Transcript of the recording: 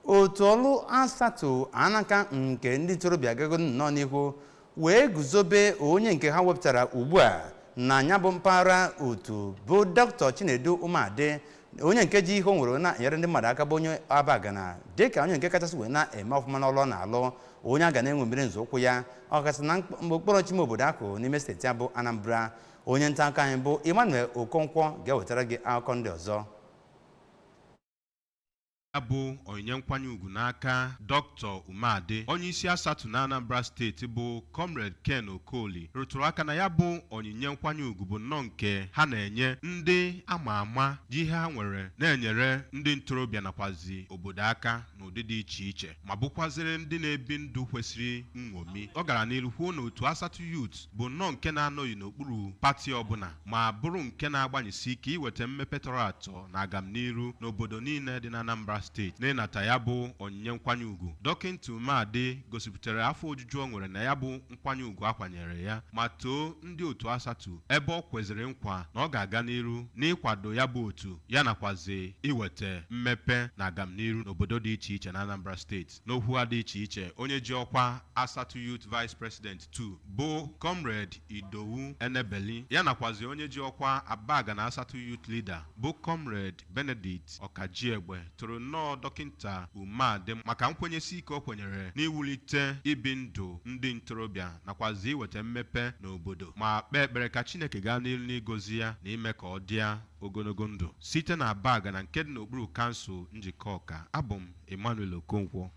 otu ọrụ asatu anaka nke ndị ntorobịa agago nnọọ n'ihu wee guzobe onye nke ha wepụtara ugbu a na nya bụ mpaghara otu bụ dr chinedu umeadị onye nke ji ihe o nwere na-enyere ndị mmadụ aka bụ onye abagana dịka onye nke kachasị wee na-eme ọfụma n'ọrụ ọ na-alụ onye a ga na-eṅomiri nzọụkwụ ya ọkachasị na mkp- okpuru ọchịchị ime obodo ahụ n'ime steeti a bụ anambra onye nta akụkọ anyị bụ emmanuel okonkwo ga-ewetara gị akụkọ ndị ọzọ Ya bụ onyinye nkwanye ugwu n'aka Dr. Umeadị, onyeisi Asatu n'Anambra steeti bụ Comrade Ken Okoli rụtụrụ aka na ya bụ onyinye nkwanye ugwu bụ nnọọ nke ha na-enye ndị a ma ama ji ihe ha nwere na-enyere ndị ntorobịa nakwazi obodo aka n'ụdị dị iche iche. ma bụkwazịrị ndị na-ebi ndụ kwesịrị nṅomi. Ọ gara n'iru kwuo na otu Asatụ Youth bụ nnọọ nke na-anọghị n'okpuru pati ọbụla ma bụrụ nke na-agbanyesi ike iweta mmepe tọrọ atọ na agamniru n'obodo niile dị n'Anambra steeti. N'ịnata ya bụ onyinye nkwanye ugwu, Dọkịnta Umeadị gosipụtara afọ ojuju o nwere na ya bụ nkwanye ugwu a kwanyere ya ma too ndị otu Asatu ebe o kweziri nkwa na ọ ga-aga n'iru n'ịkwado ya bụ otu ya nakwazi iweta mmepe na agamniru n'obodo dị iche iche n'Anambra steeti. N'okwu ha dị iche iche, onye ji ọkwa Asatu Youth Vice President 2 bụ Comrade Idowu Enebeli ya nakwazi onye ji ọkwa Abagana Asatu Youth Leader bụ Comrade Benedict Okajiegbe toro nnọọ Dọkịnta Umeadị maka nkwenyesi ike o kwenyere n'iwulite ibi ndụ ndị ntorobịa nakwazị iweta mmepe n'obodo ma kpee ekpere ka Chineke gaa n'iru n'igozi ya na ime ka ọ dịa ogologo ndụ. Site n'Abagana nke dị n'okpuru Kansụl Njikọka, abụ m Emmanuel Okonkwo.